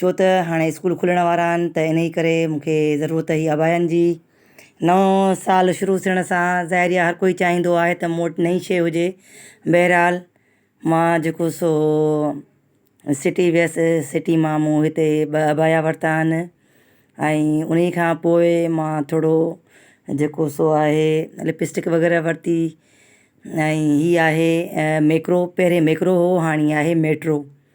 ڇو ته هاڻي اسڪول کلڻ وارا آهن ته انهي ڪري مون کي ضرورت هئي عباين جي نئون سال شروع ٿيڻ سان ظاهر هي هر ڪوئي چاهيندو آهي ته مون وٽ نئي شي هجي بهرحال مان جيڪو سو سٽي ويس سٽي مان مون هتي ٻه عبايا ورتا آهن ۽ انهي کان پوء مان ٿورو جيڪو سو آهي لپسٽڪ وغيره ورتي ۽ هي آهي ميڪرو پهرين ميڪرو هو هاڻي آهي ميٽرو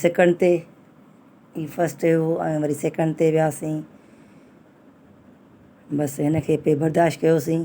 سيڪنڊ تي هي فسٽ هيو ۽ وري سيڪنڊ تي وياسين بس هن کي پي برداشت ڪيوسين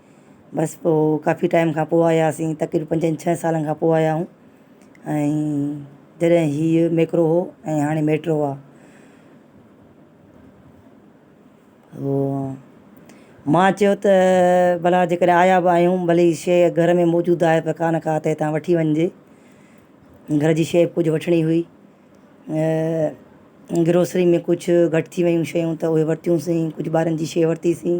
بس پوء ڪافي ٽائيم کان پوء آياسين تقريبن پنجن ڇهن سالن کان پوء آيا آهيون ۽ جڏهن هيء ميڪرو هو ۽ هاڻي ميٽرو آهي هو ماء چيو ته ڀلا جيڪڏهن آيا به آهيون ڀلي هي شيء گهر ۾ موجود آهي پر ڪانه ڪا ته هتان وٺي وڃجي گهر جي شيء ڪجهه وٺڻي هئي گروسري ۾ ڪجهه گهٽ ٿي ويون شيون ته اهي ورتيونسين ڪجهه ٻارن جي شيء ورتيسين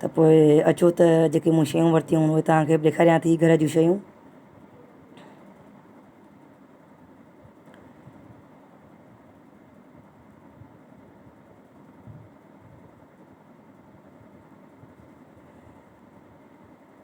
ته پوء اچو ته جيڪي مون شيون ورتيون اهي توهان کي به ڏيکاريان ٿي گهر جون شيون.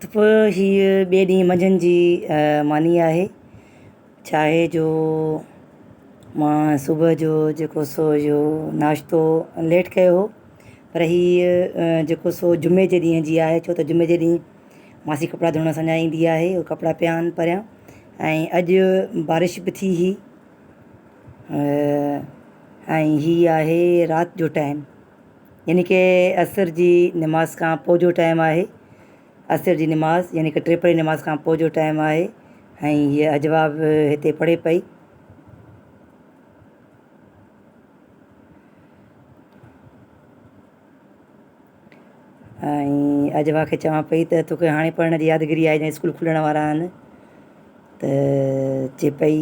ته پوء هيء ٻئي ڏينهن منجهند جي ماني آهي. ڇاهي جو مان صبح جو جيڪو سو اهو ناشتو ليٽ ڪيو هو پر هيء جيڪو سو جمعي جي ڏينهن جي آهي ڇو ته جمعي جي ڏينهن ماسي ڪپڙا ڌوئڻ اسان جا ايندي آهي هو ڪپڙا پيا آهن پريان ۽ اڄ بارش به ٿي هئي ۽ هيء آهي رات جو ٽائيم يعني ڪه عصر جي نماز کان پوء جو ٽائيم آهي عصر جي نماز يعني ڪه ٽي پهرين نماز کان پوء جو ٽائيم آهي ۽ هيء اجوبه به هتي پڙهي پئي. ۽ اجوبه کي چوان پئي ته توکي هاڻي پڙهڻ جي يادگيري آهي جڏهن اسڪول کلڻ وارا آهن ته چي پئي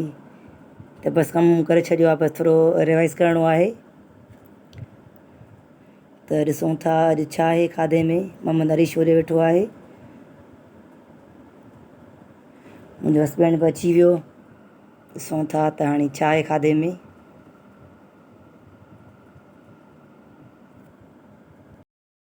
ته بس ڪم ڪري ڇڏيو آهي بس ٿورو ريوائز ڪرڻو آهي ته ڏسون ٿا اڄ ڇا آهي کاڌي ۾ محمد علي شوري ويٺو آهي منهنجو هسبينڊ به اچي ويو ڏسون ٿا ته هاڻي ڇا آهي کاڌي ۾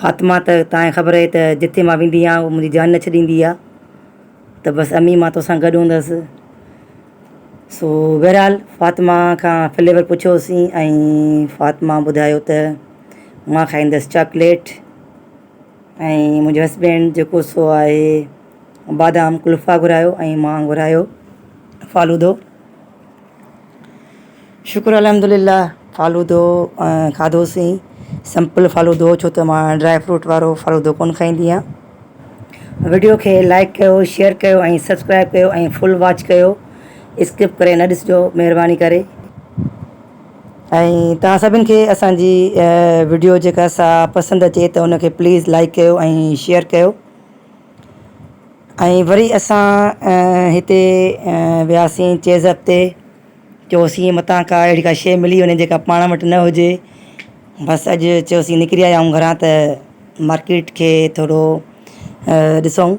فاطمه ته تانکي خبر اهي ته جتي مان ويندي آهيان هو منهنجي جان نه ڇڏيندي آهي ته بس امي مان توسان گڏ هوندس سو بهرحال فاطمه کان فليور پڇيوسين ۽ فاطمه ٻڌايو ته مان کائيندس چاڪليٽ ۽ منهنجو هسبينڊ جيڪو سو آهي بادام قلفا گهرايو ۽ مان گهرايو فالودو شڪر الحمدلله فالودو کاڌوسين سمپل فالودو ڇو ته مان ڊرائي فروٽ وارو فالودو ڪونه کائيندي آ وڊيو کي لائڪ ڪيو شيئر ڪيو ۽ سبسڪرائب ڪيو ۽ فل واچ ڪيو اسڪپ ڪري نه ڏسجو مھرباني ڪري ۽ تھان سڀن کي اسانجي وڊيو جيڪا سا پسند اچي ته ان کي پليز لائڪ ڪيو ۽ شيئر ڪيو ۽ وري اسان هتي وياسين چيزر تي چيوسين متان ڪا اهڙي ڪا شيء ملي وڃي جيڪا پاڻ وٽ نه هجي بس اڄ چيوسين نڪري آيا آهيون گهران ته مارڪيٽ کي ٿورو ڏسون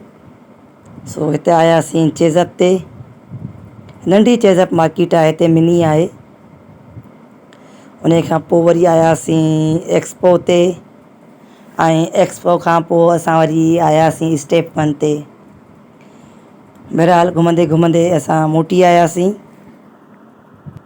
سو هتي آياسين چيزر تي ننڍي چيزر مارڪيٽ آهي هتي مني آهي انهي کان پوء وري آياسين ايڪسپو تي ۽ ايڪسپو کان پوء اسان وري آياسين اسٽيپ ون تي. بهرحال گهمندي گهمندي اسان موٽي آياسين.